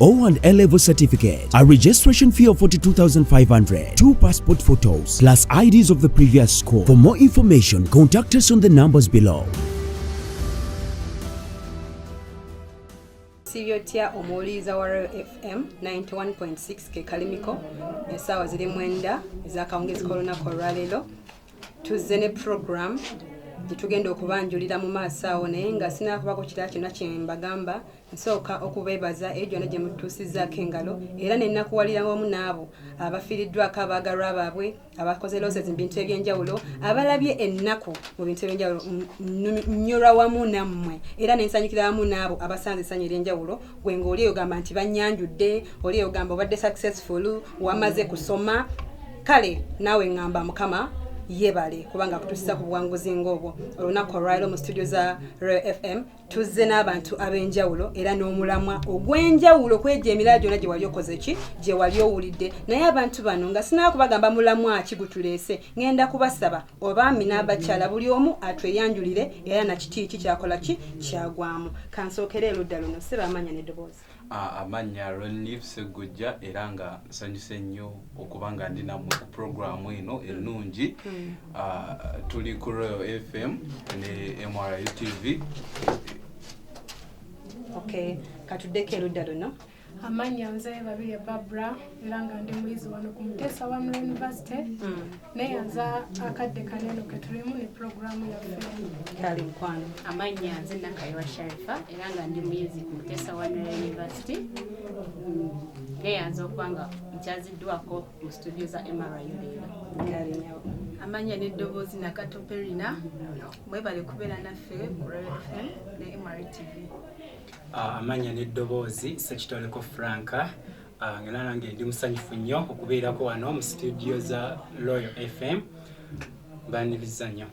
O and A level certificate, a registration fee of 42,500, two passport photos, plus IDs of the previous school. For more information, contact us on the numbers below. sibyotya omuwuliriza wa royal fm 91.6 kekalimiko esaawa ziri mwenda ezakawungezi kolunaku olwaleero tuzze ne program gyetugenda okubanjulira mu maaso awo naye nga sinakubako kirala kyonna kyembagamba nsooka okubeebaza eyo gyonna gye mutuusizaako engalo era ne nnakuwalira wamu n'abo abafiiriddwako abaagalwa baabwe abakoze loses mu bintu eby'enjawulo abalabye ennaku mu bintu eby'enjawulo nnyolwa wamu nammwe era ne nsanyukira wamu n'abo abasanze essanyu ery'enjawulo gwe ng'oli eyo gamba nti bannyanjudde oli eyo gamba obadde successful wamaze kusoma kale naawe ŋŋamba mukama yebale kubanga kutusiza ku buwanguzi ng'obwo olunaku olwaliro mu studio za royal fm tuzze n'abantu ab'enjawulo era n'omulamwa ogw'enjawulo kwegyo emirala gyona gye wali okoze ki gye wali owulidde naye abantu bano nga sinaba kubagamba mulamwa ki gutuleese ŋenda kubasaba obaami n'abakyala buli omu atweyanjulire era nakitiiki kyakola ki kyagwamu kansookera eludda luno sibaamanya n'eddoboozi amannya Renlif Sseggujja era nga nsanyuse nnyo okuba nga ndi nammwe ku puroguraamu eno ennungi hmm. tuli ku Royal FM ne MRU TV okay katuddeko erudda luno amannya nze babirye babra era nga ndi muyizi wano ku muteesa wa mula university hmm. naye nze akadde kaneno ketulimu ne pulogulaamu yaffe kale mukwano amannya nze nakayiwa sharifa era nga ndi muyizi ku mutesa wanera university mm, naye nze okuba nga nkyaziddwako mu studio za mru leero amannya n'eddoboozi nakatoperina mwebale kubeera naffe ku rfm ne mrtv ah, amannya n'eddoboozi sekitoleko franka Ah, nga nange ndi musanyufu nnyo okubeerako wano mu situdiyo za royal fm baniriza nnyo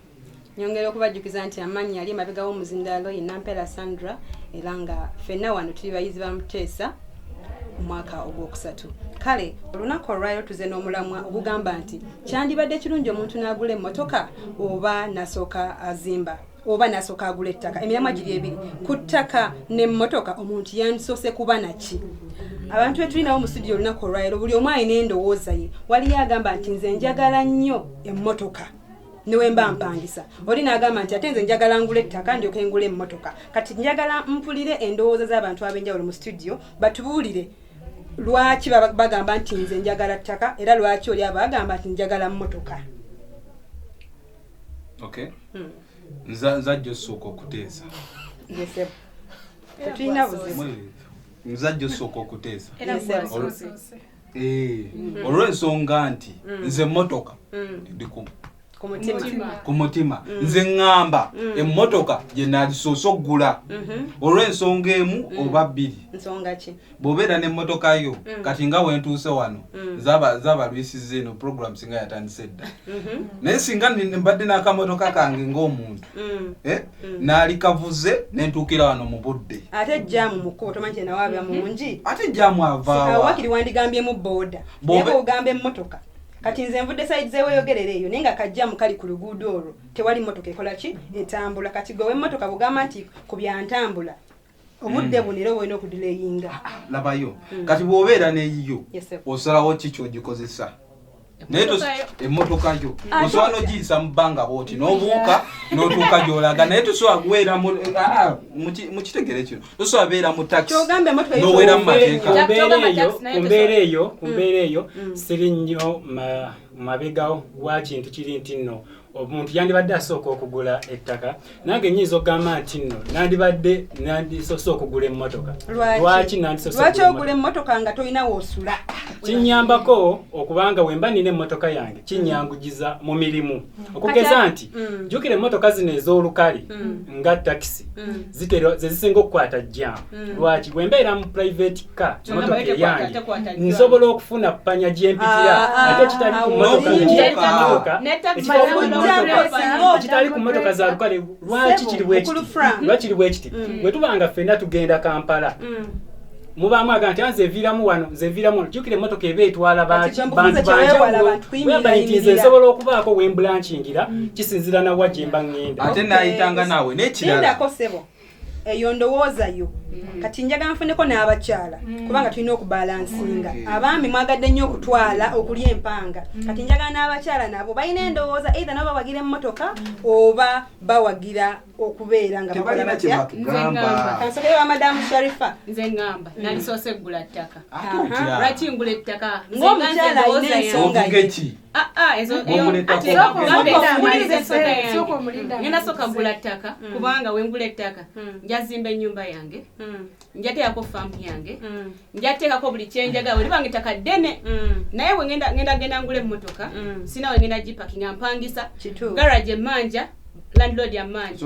nyongera okubajjukiza nti amaanyi yali emabega w'omuzindaalo ye nampera sandra era nga fenna wano tuli bayizi ba muteesa omwaka ogwokusatu kale olunaku olwaliro tuze n'omulamwa ogugamba nti kyandibadde kirungi omuntu n'agula emmotoka oba nasooka azimba oba nasooka agula ettaka emiramwa giri ebiri ku ttaka nemmotoka omuntu yandisoose kuba naki abantu betulinawo mu studio olunaku olwalero buli omu alina endowooza ye waliyo agamba nti nze njagala nnyo emmotoka newemba mpangisa oli nagamba nti ate nze njagala ngula ettaka ndyoke ngula emmotoka kati njagala mpulire endowooza z'abantu ab'enjawulo mu studio batubuulire lwaki bagamba nti nze njagala ttaka era lwaki oli abo bagamba nti njagala mmotoka okay hmm. nza nza just soko kuteza yes eh, tuina buzimu nza just soko kuteza yes eh, eh hmm. olwensonga nti hmm. nze motoka ndiku ku mutima nze ŋŋamba emmotoka gye nagisoose okugula olw'ensonga emu oba bbiri bwobeera nemmotoka yo mm. kati nga wentuuse wano mm. zabalwisiza eno program singa yatandise dda mm-hmm. naye singa mbadde n'akamotoka kange ng'omuntu mm. eh, naali kavuze nentuukira wano mu budde ate jamu mukubo tomanyi kyenawaabya mm-hmm. mungi ate jamu avaawakiri wandigambyemu booda naye bwogamba emmotoka kati nze nvudde saidi zeweyogerera eyo naye nga kajjamu kali ku luguudo olwo tewali mmotoka ekola ki etambula kati gwe wemmotoka bugamba nti ku byantambula obudde mm. bunira olina okudilayinga ah, ah, labayo mm. kati bwobeera neyiyo osalawo ki kyogikozesa naye emotoka yo ah, osobola nogiyisa mu bbanga bwoti nobuuka notuuka gyolaga naye tosobola kuweera mukitegere kino tosobola beera mu taxinowera mu mateekakumbeera eyo kumbeera eyo mm. siri nnyo mabega wa kintu kiri nti nno omuntu yandibadde asooka okugula ettaka nange nyinza okugamba nti nno nandibadde nandisose okugula emmotoka lwaki nandisosewaki ogula emmotoka nga tolina woosula kinyambako okubanga wemba nina emmotoka yange kinyangujiza mu mirimu mm. okugeza nti mm. jukira emmotoka zino ez'olukale mm. nga takisi zezisinga okukwata jjaamu Mm. lwaki bwe mbeera mu private car motoka eyange nsobola okufuna panya gye mpitira ah, ah, ate kitali ah, ku motokakitali ku motoka za lukale lwaki kiri bwekitibwekiri bwekiti mm. bwe tuba nga ffenna tugenda kampala mm. mubaamu aga nti anze eviiramu wano nze eviiramu wano jukira emotoka eba etwala bantu banjawuloyamba nti nze nsobola okubaako wembulankingira mm. kisinzira nawa gye mba ŋŋenda ate nayitanga naawe nekirala eyo ndowooza yo mm. kati njagala nfuneko n'abakyala mm. kubanga tulina okubalansinga mm. abaami mwagadde nnyo okutwala okulya empanga kati njagala n'abakyala nabo balina endowooza eitha nabo bawagira emmotoka oba bawagira okubeera nga bakola batya kansokeyo wa madamu sharifa nze ngamba nalisoose eggula ttaka lwaki ngula ettaka ng'omukyala alina ensonga Ah, ah, ngenda soka gula ttaka hmm. kubanga wengula ettaka hmm. njazimba enyumba yange hmm. njateekako faamu yange njateekako buli kyenjagala weribanga ettaka ddene naye wengenda genda ngula emmotoka sina wengenda gipakinga mpangisa garage emanja landlord amanja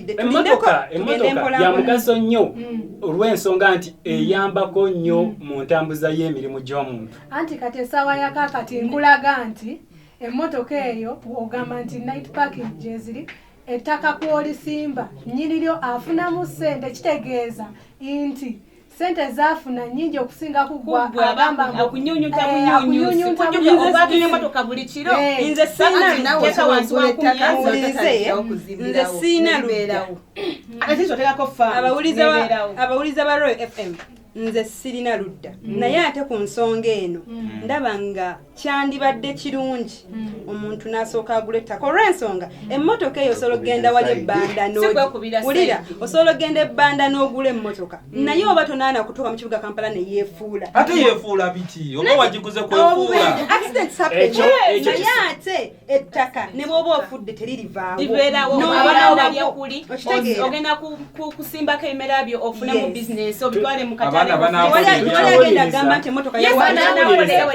emmotoka emmotoka ya mugaso nnyo hmm. olw'ensonga nti eyambako nnyo hmm. mu ntambuza y'emirimu gy'omuntu anti kati essaawa yakakati nkulaga nti emmotoka eyo ogamba nti night parking gyeziri ettaka kwolisimba nyini lyo afunamu ssente kitegeeza nti sente zafuna nyingi okusinga kugwakunyunyuta eh, buli kiro eh, nze siina lubeerawo abawuliza ba royal fm nze sirina ludda mm. naye ate ku nsonga eno mm. ndaba nga kyandibadde kirungi hmm. omuntu n'asooka agula ettaka olw'ensonga hmm. emmotoka eyo osobola okugenda wali ebbanda wulira osobola okugenda ebbanda n'ogula emmotoka hmm. naye oba tonaana kutuuka mu kibuga kampala ne yeefuula ate yeefuula biki oba wagiguze kwefuula naye ate ettaka ne bwoba ofudde teririvaawooogenda kusimbako ebimera byo ofune mu bizinesi obitwale mukataleagenda gamba nti emotoka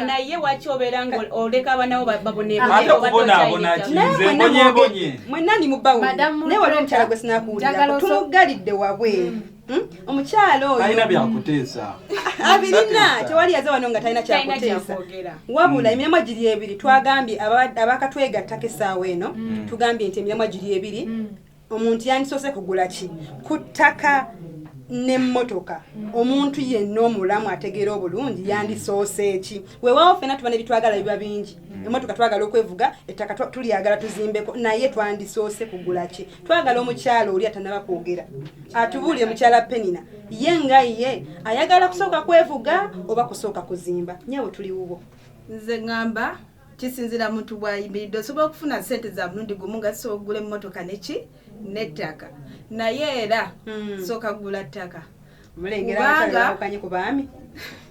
naye waki obeera nga oleka abanawo babonebonebonye mwenani mubawo naye waliwo omukyala gwe sinakuwulira tumugalidde wabwe mm. Hmm? omukyalo oyo alina byakuteesa abirina tewali yaze wano nga talina kyakuteesa wabula hmm. emirimu giri ebiri twagambye abakatwegattako essaawa eno hmm. tugambye nti emirimu giri ebiri omuntu yandisoose kugula ki ku ttaka n'emmotoka omuntu yenna omulamu ategeera obulungi yandisoose ki weewaawo fena tuba nebitwagala biba bingi emmotoka twagala okwevuga ettaka tulyagala tuzimbeko naye twandisoose kugula ki twagala omukyalo oli atanaba kwogera atubuulire mukyala penina ye nga ye ayagala kusooka kwevuga oba kusooka kuzimba nyabo tuli wubo nze ŋŋamba kisinzira muntu bwayimiridde osobola okufuna sente za mulundi gumu nga sobola okugula emmotoka neki n'ettaka naye era hmm. sooka kugula ttaka mulengera abakyalakanye ku baami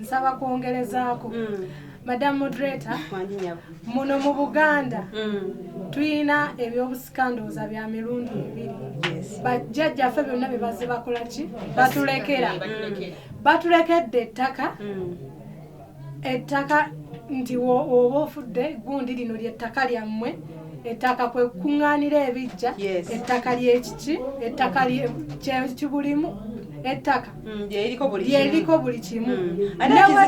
nsaba kwongerezaako mm. madam moderator muno mu buganda mm. tulina ebyobusikandooza bya mirundi ebiri bajjajjaffe byonna byebaze bakola ki batulekera mm. batulekedde ettaka ettaka nti oba ofudde gundi lino lyettaka lyammwe ettaka kwe kukuŋŋaanira ebijja ettaka lyekiki ettaka kyekibulimu ettaka mm, lyeriko buli kimu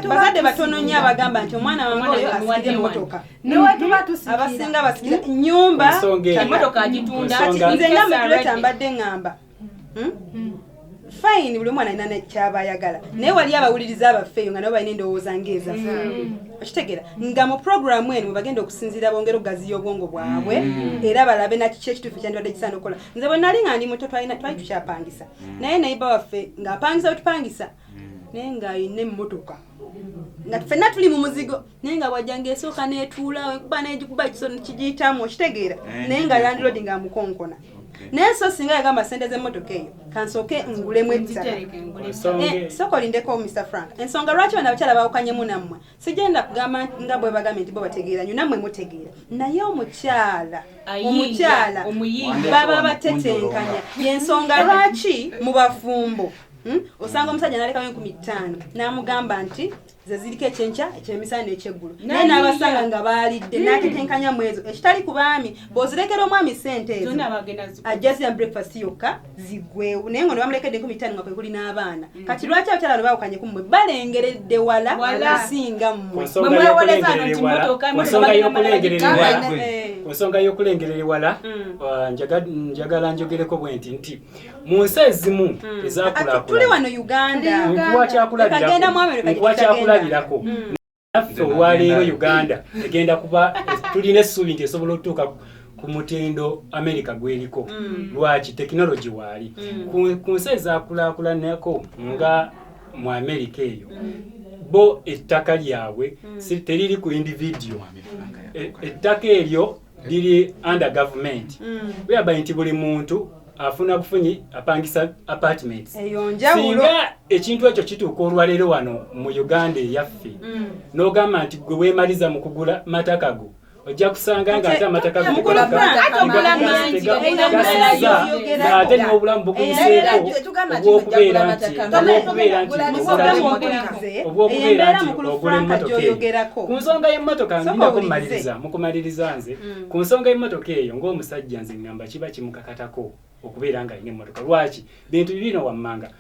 bazadde mm. batono nnyo abagamba nti omwana wange oyo asikira emmotoka newetuba mm-hmm. tusikira abasinga basikira nyumba emotoka agitunda nze nga mutuleta mbadde ngamba hmm? Hmm. fine buli omwana alina nekyaba ayagala hmm. naye wali abawuliriza abaffe eyo nga nabo balina endowooza ngeeza okitegera nga mu programu eno webagenda okusinziira bongera okugaziya obwongo bwabwe era balabe nakiki ekituufu kyandibadde kisaana okukola nze bwe nali nga ndi muto twali tukyapangisa naye nayiba waffe ng'apangisa wetupangisa naye ng'alina emmotoka nga ffenna tuli mu muzigo naye nga bwajja ngaesooka netuula wekuba negikuba kisoni kigiyitamu okitegeera eh, naye nga landlord nga amukonkona naye so singa yagamba sente zemotoka eyo kansooke ngulemu ebisasoko eh, lindeko mr frank ensonga lwaki bana abakyala bawukanyemu nammwe sigenda kugamba nga bwe bagambye nti bo bategeera nyo nammwe mutegeera naye omukyala omukyala baba batetenkanya yensonga lwaki mu bafumbo hmm? osanga omusajja nalekayo enkumi ttaano n'amugamba nti ze ziriko ekyenkya ekyemisana n'ekyeggulo naye n'abasanga nga baalidde n'atetenkanya mu ezo ekitali ku baami bw'ozirekera omwami ssente ezo ajja zirya breakfast yokka ziggwewo naye nga ne bamulekedde enkumi ttaano nga kwe kuli n'abaana mm. kati lwaki abakyala bano baawukanye ku mmwe balengeredde wala okusinga mmwe ku nsonga y'okulengerera ewala mm. uh, njagala njogereko bwe nti nti mu nsi ezimu hmm. ezakulakulanakuwa kyakulabirako hmm. naffe olwaleero uganda egenda kuba tulina essuubi nti esobola okutuuka ku mutindo amerika gweriko hmm. lwaki tekinologi waali ku nsi ezakulakulanako nga mu amerika eyo bo ettaka lyabwe teriri ku individuo e, ettaka eryo liri under government mm. whereby nti buli muntu afuna bufunyi apangisa apartments singa ekintu ekyo kituuka olwaleero wano mu uganda eyaffe mm. n'ogamba nti gwe weemaliza mu kugula matakago ojja kusanga nga ate amataka ate n'obulamu bukuyiseeko obwokubeera nti obwokubeera nti obwokubeera nti ogula emmotoka ku nsonga y'emmotoka nginako mumaliriza mukumaliriza nze mm. ku nsonga y'emmotoka eyo ng'omusajja nze ngamba kiba kimukakatako okubeera nga alina emmotoka lwaki bintu bibino wammanga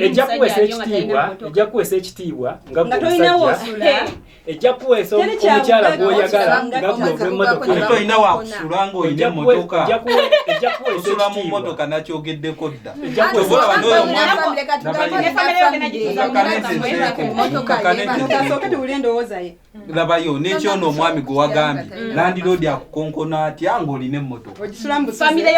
ejja kuweesa ekitiibwa ejja kuweesa ekitiibwa nga gwomusajja ejja kuweesa omukyala gwoyagala nga gwova emmotoka tolina wakusula ng'olina emmotoka osula mu mmotoka nakyogeddeko dda Mm. labayo nekyono omwami gwe wagambye landiroodi akukonkona atya ngaolina emmotoaomusajja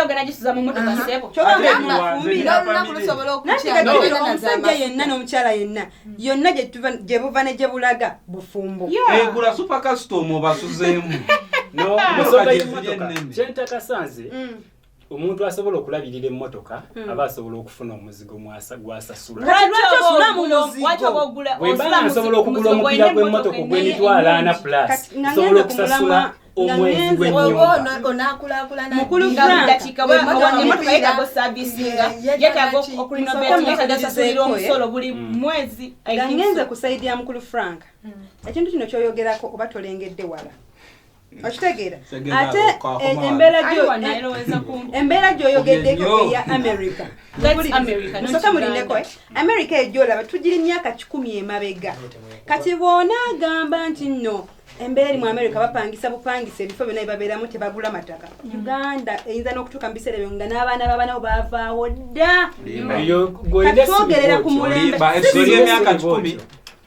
yenna n'omukyala yenna mm. yonna gyebuva ne gyebulaga bufumbo egula eh, supakasitoma obasuzeemu omuntu asobola okulabirira emmotoka hmm. aba asobola okufuna omuzigo gwasasulawebansobola okugula omupiira gw'emmotoka ogw'emitwalo ana plus sobola okusasula omwezigenze kusaidia mukulu frank hmm. ekintu kino kyoyogerako oba tolengedde wala okitegeera ate e- embeera gyoyogeddeko eya america musoke mulindeko eh? america ejolaba tugiri myaka kikumi emabega kati bwona agamba nti no embeera eri mu america bapangisa bupangisa ebifo byona bibabeeramu tebagula mataka mm. uganda eyinza n'okutuuka mu biseera ebyo nga n'abaana babanawo bavaawo dda katwogerera ku mulembe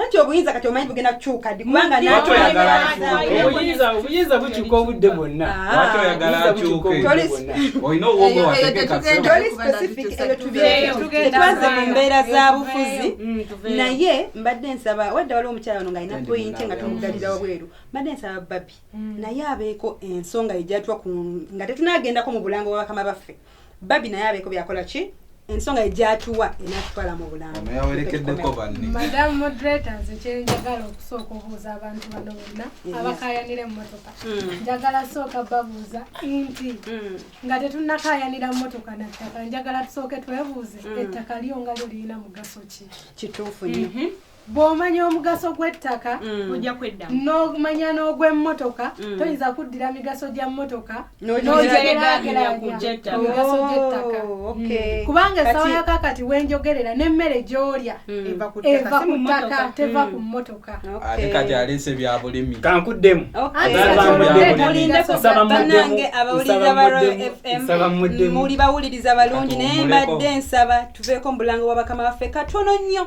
nanti obuyinza kati omanyi bugenda kukyuka ddi kubanga obuyinza obuyinza bukyuka obudde bwonna toli specific eyo tubiretwaze mu mbeera za bufuzi mm, naye mbadde nsaba wadde waliwo omukyala ono ngaalina poyinti nga tumugalira wabweru mbadde nsaba babi mm. naye abeeko ensonga ejatwa nga tetunagendako mu bulango bwabakama baffe babi naye abeeko byakola ki ensonga egyatuwa enatutwala mu bulambuyawerekeddekobanmadamu moderator nze kyenjagala okusooka obuuza abantu bano bonna abakayanira emmotoka hmm. njagala sooka babuuza nti hmm. nga tetunakayanira mmotoka nattaka njagala tusooke twebuuze hmm. ettaka lyo nga lyo lirina mugaso ki kituufu nyo mhm. bw'omanya omugaso gw'ettaka mm. ojja kweddamu n'omanya n'ogw'emmotoka mm. toyinza kuddira migaso gya mmotoka n'ogyerageranyamigaso gy'ettaka oh, mm. kubanga esawa yako akati wenjogerera n'emmere gy'olya eva ku ttaka teva ku mmotoka ate kati aleese bya bulimi kankuddemu banange abawuliriza ba royal fm muli bawuliriza balungi naye mbadde nsaba tuveeko mu bulango bwa bakama baffe katono nnyo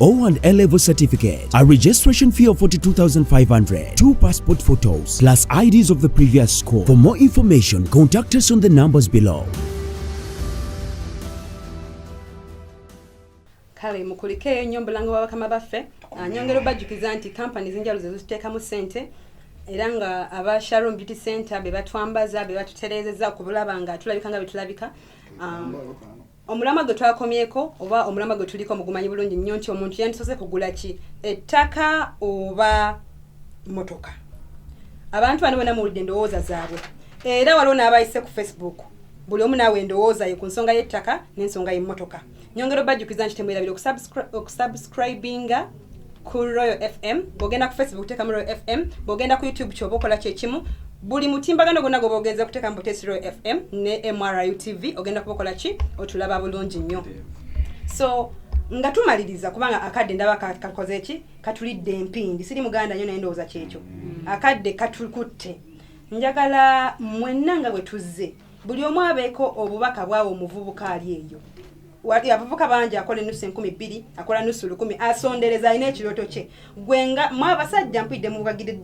O and A level certificate, a registration fee of 42,500, two passport photos, plus IDs of the previous school. For more information, contact us on the numbers below. kale mukulikeeyo nnyo mbulanga bwa bakama baffe ah, nyongera obajjukiza nti kampani zinjalo zezituteekamu sente era nga aba sharon beauty center be batwambaza be batutereezeza okulaba nga tulabika nga betulabika um, omulamwa gwe twakomyeko oba omulamwa gwe tuliko mugumanyi bulungi nnyo nti omuntu yandisoose kugula ki ettaka oba motoka abantu bano bona muwulidde endowooza zaabwe era waliwo n'abayise ku facebook buli omu naawe endowooza ye ku nsonga y'ettaka n'ensonga y'emmotoka nyongera obajjukiza nti temwerabira okusubscribinga ku royal fm bwogenda ku facebook teekamu royal fm bwogenda ku youtube kyoba okola kyekimu buli mutimbagano gwonna gwoba ogenza okuteekamu butesi royal fm ne mru tv ogenda kuba okola ki otulaba bulungi nnyo so nga tumaliriza kubanga akadde ndaba kakoze ki katulidde empindi siri muganda nyo naye ndowooza kyekyo mm. akadde katukutte njagala mwenna nga bwe tuzze buli omu abeeko obubaka bwawo omuvubuka ali eyo wali abavuka bangi akola enusu enkumi bbiri akola nusu lukumi asondereza alina ekirooto kye gwe nga mwe abasajja mpidde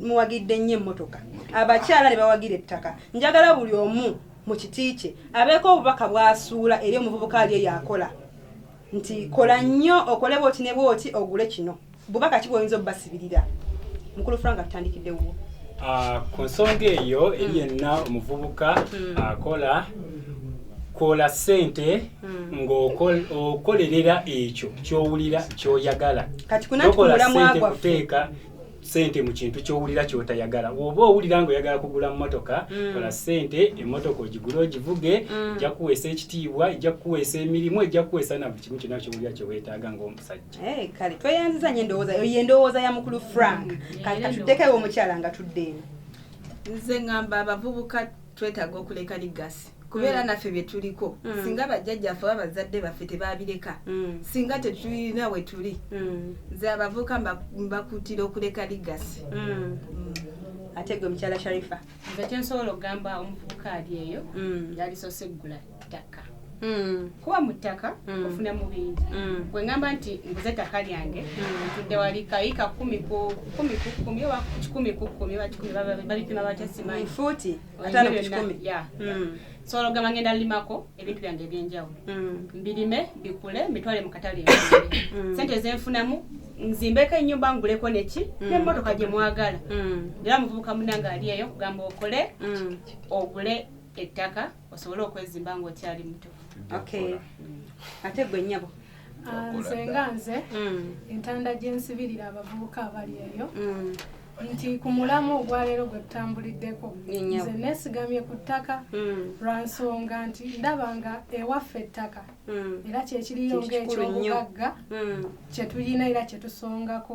muwagidde nnyo emmotoka abakyala ne bawagira ettaka njagala buli omu mu kiti kye abeeko obubaka bwasuula eri omuvubuka ali eyo akola nti kola nnyo okole bwoti ne bwoti ogule kino Bubaka ki bwoyinza obubasibirira mukulu Frank atutandikidde wuwo. Ah, ku nsonga eyo eri yenna omuvubuka hmm. akola kola sente hmm. ng'okolerera ekyo kyowulira kyoyagala tokola sente kuteeka sente mu kintu kyowulira kyotayagala oba owulira nga oyagala kugula mmotoka mm. kola sente emmotoka ogigule ogivuge mm. ejja kuweesa ekitiibwa ejja kuweesa emirimu ejja kuweesa na buli kimu kyonna kyowulira kyewetaaga ng'omusajja Hey, eh, kale tweyanziza nyo endowooza eyo yendowooza ya mukulu frank kati katutekewo omukyala nga tudde eno nze ngamba abavubuka twetaaga okuleka ligasi kubeera mm. naffe byetuliko mm. singa bajjajjaffe oba bazadde baffe tebabireka mm. singa tetulina wetuli nze abavuuka mbakuutira okuleka ligasi ate gwe mukyala sharifa nze kyensobola okugamba omuvubuka ali eyo yalisose eggula ttaka hmm. kuba mu ttaka hmm. ofuna mu bingi hmm. gwe ngamba nti nguze ettaka lyange ntudde wali kayiika kumi ku kumi ku kumi oba kikumi ku kumi oba kikumi babipima batya simanyi fuuti ataano ku kikumi so ologamba ngenda limako ebintu byange ebyenjawulo mbirime bikule mbitwale mu katale sente zenfunamu nzimbeko enyumba nguleko neki mm. nemotoka gyemwagala mm. era muvubuka munange ali eyo kugamba okole mm. ogule ettaka osobole okwezimba ng'okyali muto ate gwe nyabo ah, nze nga nze mm. entanda gyensibirira abavubuka abali eyo mm. nti ku mulamu ogwaleero gwe tutambuliddeko nze nesigamye ku ttaka mm. lwa nsonga nti ndaba nga ewaffe ettaka era kyekiriyo ngaekyobugagga kyetulina era kyetusongako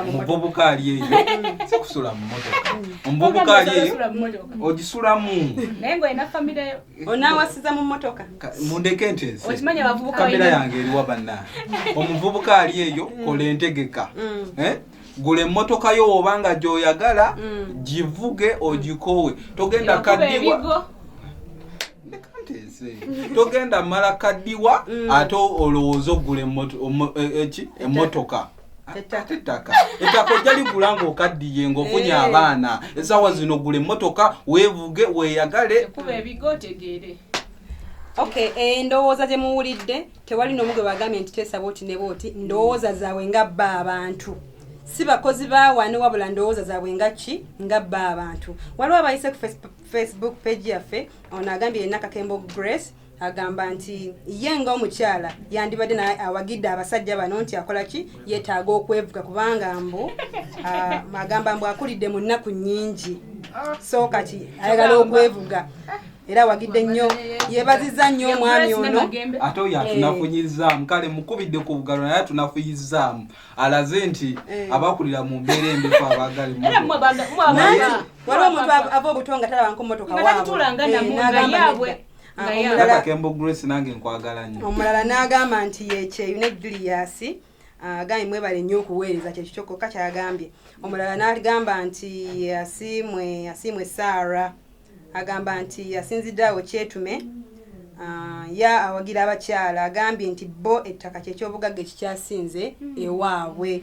omuvubuka ali eyo si kusula mu motoka omuvubuka ali eyo ogisulamu naye ngaolina famire yo onawasiza mu motoka mundeke ntesekamera yange eriwa banna omuvubuka ali eyo mm. kola entegeka mm. eh? gula emmotoka yo woba nga gyoyagala mm. givuge ogikoowe togenda kaddiwa togenda mala kaddiwa ate olowooza ogula e, e, emotoka ate ettaka ettaka ojja ligula ng'okaddiye ng'ofunye eh. abaana esaawa zino gula emmotoka weevuge weeyagale kuba ebigo otegeere okay endowooza gye muwulidde tewali n'omu gwe bagambye nti teesaba oti ne booti ndowooza zaabwe nga bba abantu si bakozi bawani wabula ndowooza zaabwe nga ki nga bba abantu waliwo abayise ku facebook page yaffe ono agambye yenna kakembo grace agamba nti ye nga omukyala yandibadde naye awagidde abasajja bano nti akola ki yetaaga okwevuga kubanga mbu ah, agamba mbu akulidde mu nnaku nnyingi so kati ayagala okwevuga era wagidde nnyo yebaziza nnyo omwami ono ate oyo atunafunyizaamu eh. kale mukubidde ku bugalo naye atunafunyizaamu alaze nti eh. abakulira mu mbeera embefu abaagali waliwo omuntu ava obuto nga talabanko motoka waabwe omulala n'agamba nti yekyeyu ne juliyasi ah, agambye mwebale nnyo okuweereza kyekyo kyokka kyagambye omulala n'agamba nti asiimwe asiimwe saara agamba nti asinzidde awo kyetume ah, ya awagira abakyala agambye nti bo ettaka kyekyobugagga ekikyasinze ewaabwe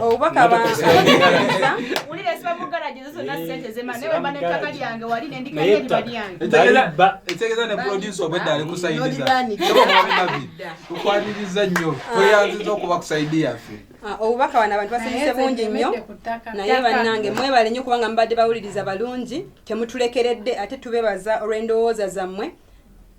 obubaka bwawulira siba mugalajezo zonna sente zema naye wemba nettaka lyange wali nendikayo eriba lyangeekitegeeza ne produce obwedda ali kusaidizaukwaniriza nnyo tweyanziza okuba kusaidi yaffe obubaka bano abantu basanyuse bungi nnyo naye bannange mwebale nnyo kubanga mubadde bawuliriza balungi temutulekeredde ate tubebaza olw'endowooza zammwe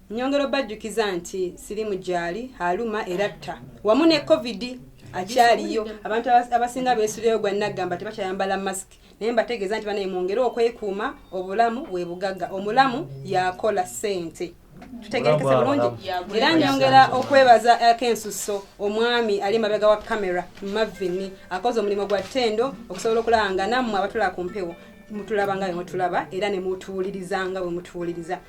Nyongera obajjukiza nti sirimu gyali aluma era tta wamu ne covid akyaliyo abantu abasinga beesuleyo gwa naggamba tebakyayambala masiki naye mbategeeza nti banaye mwongere okwekuuma obulamu bwe bugagga omulamu yakola ssente tutegerekese bulungi era nyongera okwebaza akensusso omwami ali mabega wa kamera mavini akoze omulimu gwa ttendo okusobola okulaba nga nammwe abatula ku mpewo mutulaba nga bwemutulaba era nemutuwulirizanga bwemutuwuliriza